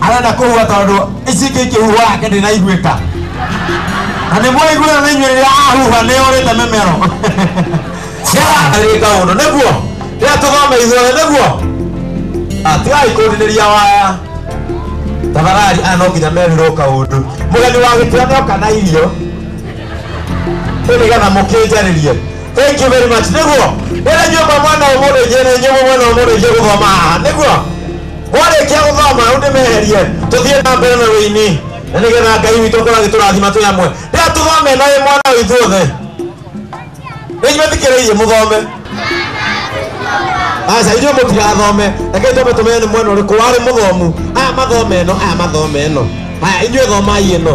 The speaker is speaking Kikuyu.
arenda kũhua tondũ ici ingĩ ikĩhuha ake ndĩnaiguĩka na nĩ mwaiguĩra na inyuĩ rĩrĩa ahuha nĩ ũrĩte mĩmero ciagarĩka ũndũ nĩguo rĩrĩa tũgome ithuothe nĩguo atigai kũndinĩria waya tafadhali aya no nginya merirwo kaũndũ mũgeni wa gĩtĩa nĩoka na irio nĩgetha mũkĩnjarĩrie thank you very much nĩguo wĩra nyũmba mwana ũmũrĩithie na inyuĩ mwena ũmũrĩithie gũthoma haha nĩguo mwarĩkia gũthoma rĩu ndĩmeherie tũthiĩ na mbere na wĩini na nĩgetha ngai witũ akorwo agĩtũrathima twĩ amwe rĩa tũthome na wĩ mwana ũyũ ithuothe nĩimetikĩrĩirie mũthome aca ithuĩ mũtirathome rekei twambe tũmenye nĩ mwena ũrĩkũ warĩ mũthomu aya mathome ĩno aya mathome ĩno aya inyuĩ thomai ĩno